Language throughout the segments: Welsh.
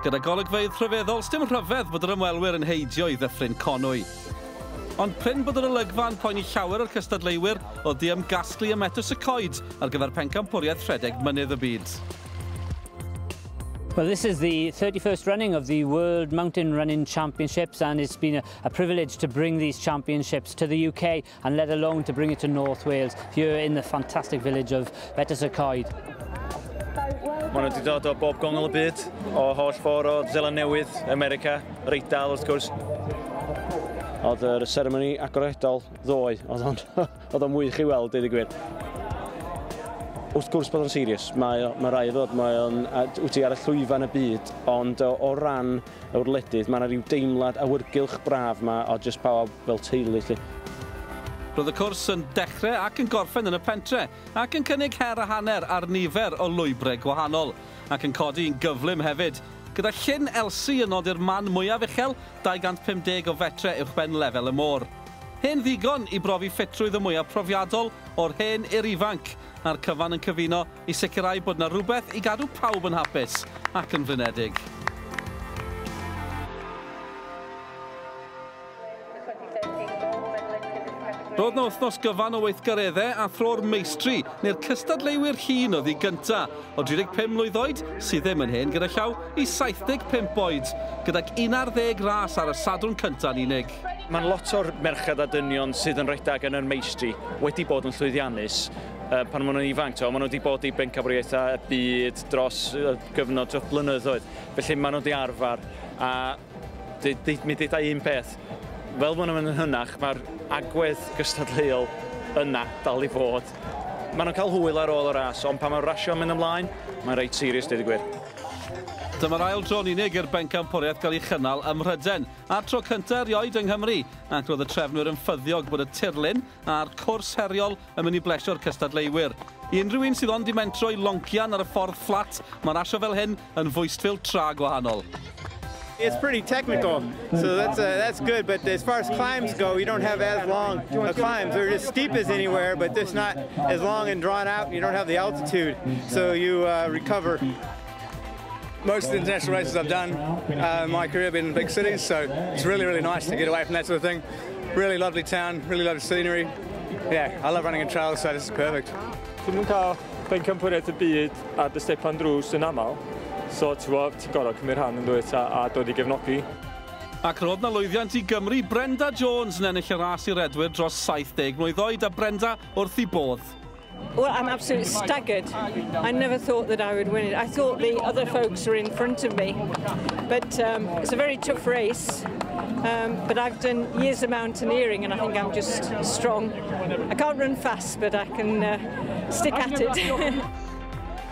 Gyda golygfeydd rhyfeddol, sdim rhyfedd bod yr ymwelwyr yn heidio i Ddyffryn Conwy. Ond prin bod yr olygfa yn poeni llawer o'r cystadleuwyr oedd di ymgasglu ym Metws y Coed ar gyfer pencampwriaeth rhedeg mynydd y byd. Well, this is the 31st running of the World Mountain Running Championships, and it's been a A privilege to bring these championships to the UK and let alone to bring it to North Wales here in the fantastic village of Betws y Coed. Mae nhw wedi dod o bob gongol y byd, o holl ffordd o Zeland Newydd, America, Reidal wrth gwrs. Oedd yr ceremony agoredol ddoe, oedd o'n mwy i chi weld, dweud y gwir. Wrth gwrs bod o'n serious, mae, mae rai ddod, mae o'n wyt ti ar y llwyfan y byd, ond o, o ran yw'r wledydd, mae yna ryw deimlad awyrgylch braf yma o jyst pawb fel teulu 'lly. Roedd y cwrs yn dechrau ac yn gorffen yn y pentre, ac yn cynnig her a hanner ar nifer o lwybrau gwahanol, ac yn codi yn gyflym hefyd, gyda Llyn Elsi yn nodi'r man mwyaf uchel, 250 o fetre uwchben lefel y môr. Hen ddigon i brofi ffitrwydd y mwyaf profiadol o'r hen i'r ifanc, a'r cyfan yn cyfuno i sicrhau bod 'na rywbeth i gadw pawb yn hapus ac yn flinedig. Roedd 'na wythnos gyfan o weithgareddau a thro'r meistri, neu'r cystadleuwyr hŷn oedd i gynta, o 35 mlwydd oed, sydd ddim yn hen gyda llaw, i 75 oed, gydag 11 ras ar y Sadwrn cynta'n unig. Mae'n lot o'r merched a dynion sydd yn rhedeg yn yr meistri wedi bod yn llwyddiannus uh, pan maen nhw'n ifanc. Maen nhw wedi bod i bencampwriaethau y byd dros uh, gyfnod dros blynyddoedd. Felly maen nhw wedi arfer a mi ddeitha un peth. Fel maen nhw'n mynd yn hynach, mae'r agwedd gystadleuol yna dal i fod. Maen nhw'n cael hwyl ar ôl y ras, ond pan mae'r rasio'n mynd ymlaen, mae'n reit serious, dweud y gwir. Dyma'r ail dro'n unig i'r bencampwriaeth gael ei chynnal ym Mhryden. A'r tro cyntaf erioed yng Nghymru, ac roedd y trefnwyr yn ffyddiog bod y tirlun a'r cwrs heriol yn mynd i blesio'r cystadleuwyr. I unrhyw un sydd ond di mentro i loncian ar y ffordd fflat, mae rasio fel hyn yn fwystfil tra gwahanol. It's pretty technical, so that's uh, that's good. But as far as climbs go, you don't have as long a climbs. They're as steep as anywhere, but just not as long and drawn out. You don't have the altitude, so you uh, recover. Most of the international races I've done uh, my career have been in big cities, so it's really, really nice to get away from that sort of thing. Really lovely town, really lovely scenery. Yeah, I love running in trails, so this is perfect. Dwi'n mwyn cael bencampwriaeth y byd a dy stepan drws yn aml, so ti'n gwybod, ti'n gorau cymryd rhan yn dweud a, a dod i gefnogi. Ac roedd na lwyddiant i Gymru, Brenda Jones yn ennill y ras i redwyr dros 70 mlwydd oed a Brenda wrth i bodd. Well, I'm absolutely staggered. I never thought that I would win it. I thought the other folks were in front of me. But um, it's a very tough race. Um, but I've done years of mountaineering and I think I'm just strong. I can't run fast, but I can uh, stick at it.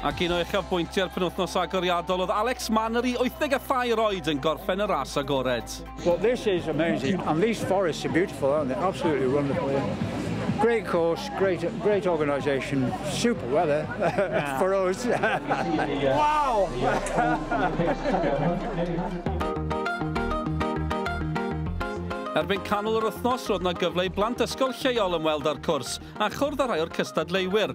Ac un o uchafbwyntiau'r penwthnos agoriadol oedd Alex Mann yr i 83 oed yn gorffen y ras agored. Well, this is amazing, and these forests are beautiful, aren't they? Absolutely wonderful. Yeah. Great course, great, great organisation, super weather yeah. for us. wow! Erbyn canol yr wythnos, roedd yna gyfle i blant ysgol lleol ymweld â'r cwrs a chwrdd â rhai o'r cystadleuwyr.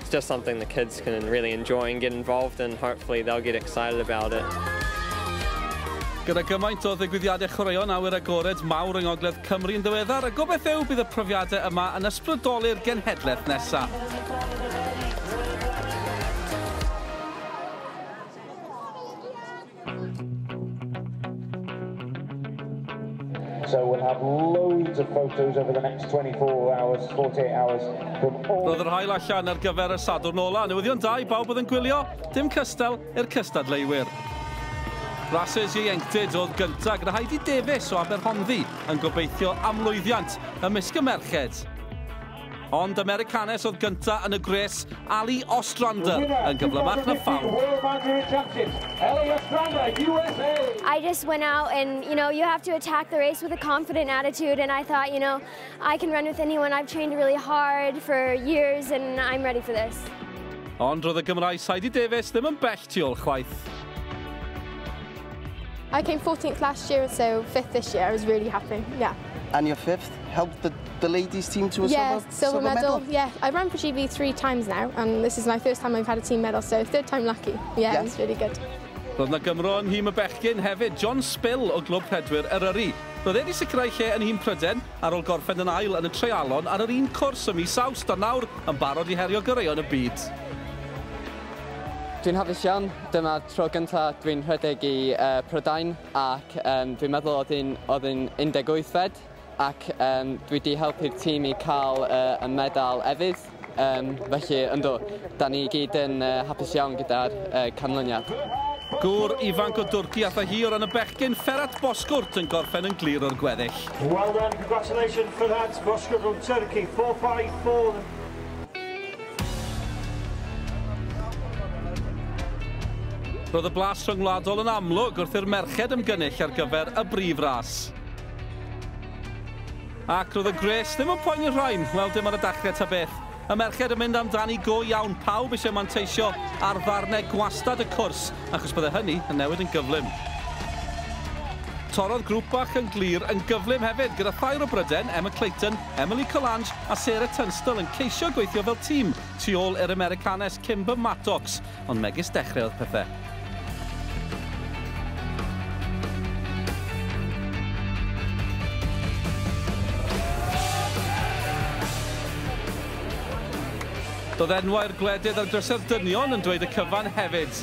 It's just something the kids can really enjoy and get involved in, hopefully they'll get excited about it. Gyda gymaint o ddigwyddiadau chwaraeon awyr agored mawr yng Ngogledd Cymru yn ddiweddar, y gobaith yw bydd y profiadau yma yn ysbrydoli'r genhedlaeth nesaf. So we'll have loads of photos over the next 24 hours, 48 hours. Roedd yr hael allan ar gyfer y Sadwrn ola. Newyddion da i bawb oedd yn gwylio, dim cystal i'r cystadleuwyr. Rhasys ieuenctid oedd gyntaf gyda Heidi Davies o Aberhonddu yn gobeithio am lwyddiant ymysg y merched. Ond Americanes oedd gyntaf yn y gwres, Ali Ostrander yn gyflymach na phawb. I just went out and, you know, you have to attack the race with a confident attitude and I thought, you know, I can run with anyone. I've trained really hard for years and I'm ready for this. Ond roedd y Gymraes Heidi Davies ddim yn bell tu ôl chwaith. I came 14th last year, so 5th this year. I was really happy, yeah. And your 5th helped the, the ladies team to a yeah, silver, silver, silver medal. medal. Yeah, I've run for GB three times now, and this is my first time I've had a team medal, so third time lucky. Yeah, yeah. it's really good. Roedd na Gymro yn nhîm y bechgyn hefyd, John Spill o Glwb Pedwyr Eryri. Roedd wedi sicrhau lle yn nhîm Pryden ar ôl gorffen yn ail yn y treialon ar yr un cwrs y mis Awst a nawr yn barod i herio goreuon y byd. Dwi'n hapus iawn Dyma'r tro gyntaf dwi'n rhedeg i uh, Prydain ac um, dwi'n meddwl oedd un, oedd un 18 fed ac um, dwi wedi helpu'r tîm i cael uh, y medal efydd. Um, felly, ynddo, da ni gyd yn uh, hapus iawn gyda'r uh, canlyniad. Gŵr ifanc o Dwrci allai hi o ran y bechgyn Ferhat Bozkurt yn gorffen yn glir o'r gweddill. Well done, congratulations Ferhat Bozkurt from Turkey, 4-5, 4 Roedd y blas rhyngwladol yn amlwg wrth i'r merched ymgynnull ar gyfer y brif ras. Ac roedd y gwres ddim yn poeni'r rhain, wel dim ar y dachrau ta beth. Y merched yn mynd amdani go iawn, pawb eisiau manteisio ar ddarnau gwastad y cwrs, achos byddai hynny yn newid yn gyflym. Torodd grŵp bach yn glir yn gyflym hefyd, gyda thair o Bryden, Emma Clayton, Emily Collange a Sarah Tunstall yn ceisio gweithio fel tîm tu ôl i'r Americanes Kimber Mattox, ond megis dechrau oedd pethau. Doedd enwau'r gwledydd a'r drysau'r dynion yn dweud y cyfan hefyd.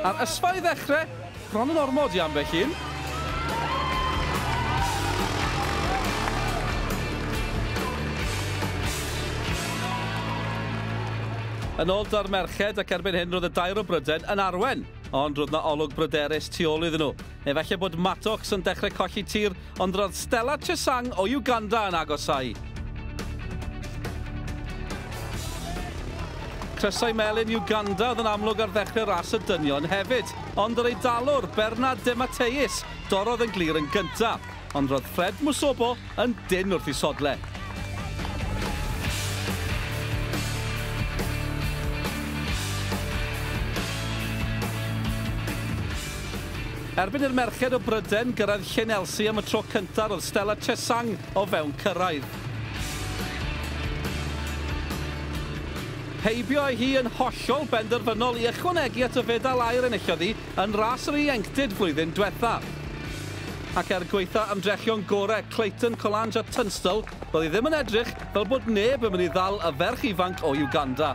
Ar ysfa i ddechrau, Bron yn ormod i ambell un. Yn ôl da'r merched ac erbyn hyn roedd y dair o Bryden yn arwen, ond roedd 'na olwg bryderus tu ôl iddyn nhw. Efallai bod Maddox yn dechrau colli tir Ond roedd Stella Chesang o Uganda yn agosáu. Crysau melyn Uganda oedd yn amlwg ar ddechrau ras y dynion hefyd, ond yr Eidalwr, Bernard De Matteis, dorrodd yn glir yn gyntaf, ond roedd Fred Musobo yn dynn wrth i sodle. Erbyn i'r merched o Bryden gyrraedd Llyn Nelsie am y tro cyntaf roedd Stella Chesang o fewn cyrraedd. Heibio â hi yn hollol benderfynol i ychwanegu at y fedal aur enillodd hi yn ras yr ieuenctid flwyddyn dwetha. Ac er gwaetha ymdrechion gorau Clayton, Collange a Tunstall, Doedd hi ddim yn edrych fel bod neb yn mynd i ddal y ferch ifanc o Uganda.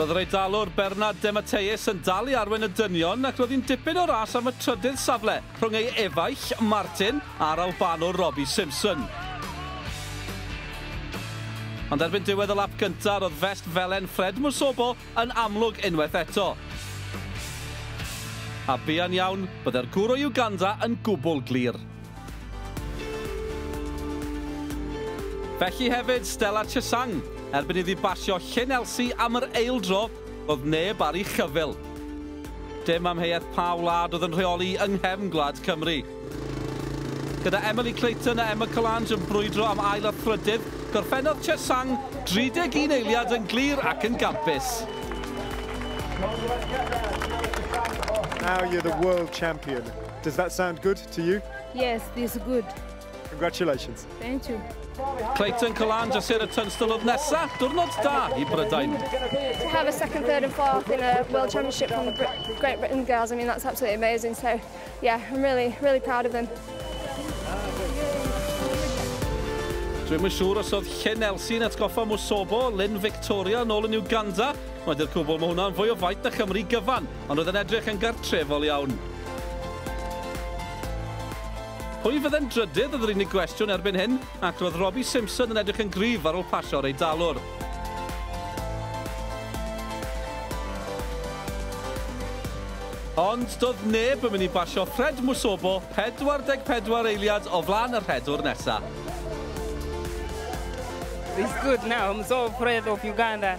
Roedd yr Eidalwr Bernard Dematteis yn dal i arwain y dynion ac roedd hi'n dipyn o ras am y trydydd safle. Rhwng ei efaill, Martin, a'r Albanwr Robbie Simpson. Ond erbyn diwedd y lap gyntaf, roedd fest felen Fred Musobo yn amlwg unwaith eto. A buan iawn, byddai'r gŵr o Uganda yn gwbl glir. Felly hefyd, Stella Chesang, erbyn iddi basio Llyn Elsi am yr eildro, Doedd neb ar ei chyfyl. Dim amheuaeth pa wlad oedd yn rheoli yng nghefn gwlad Cymru. Gyda Emily Clayton a Emma Collange yn brwydro am ail a thrydydd, gorffennodd Che Sang 31 eiliad yn glir ac yn gampus. Now you're the world champion. Does that sound good to you? Yes, this good. Congratulations. Thank you. Clayton Calange a Sarah Tunstall oedd nesa. Diwrnod da i Brydain. To have a second, third and fourth in a World Championship from the Great Britain girls, I mean, that's absolutely amazing. So, yeah, I'm really, really proud of them. Dwi'n mynd siŵr os oedd Chen Elsie yn atgoffa Musobo, Lynn Victoria yn ôl yn Uganda. Mae'n dy'r cwbl mae hwnna'n fwy o faith na Chymru gyfan, ond oedd yn edrych yn gartrefol iawn. Pwy fydde'n drydydd oedd yr unig gwestiwn erbyn hyn, ac roedd Robbie Simpson yn edrych yn gryf ar ôl pasio'r Eidalwr. Ond doedd neb yn mynd i basio Fred Musobo 44 eiliad o flaen y rhedwr nesa. It's good now, I'm so afraid of Uganda.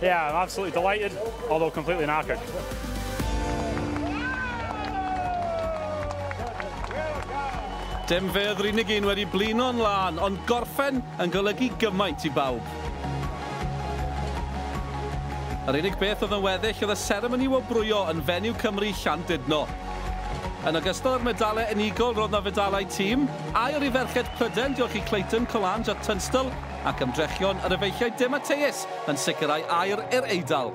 Yeah, I'm absolutely delighted, although completely knackered. Dim fe oedd yr unig un wedi blino'n lân, ond gorffen yn golygu gymaint i bawb. Yr unig beth oedd yn weddill oedd y seremoni wobrwyo yn fenyw Cymru Llandudno. Yn ogystal â'r medalau unigol roedd na fedalau tîm, aur i ferched Pryden diolch i Clayton, Collange a Tunstall, ac ymdrechion yr efeilliaid De Matteus yn sicrhau aer i'r Eidal.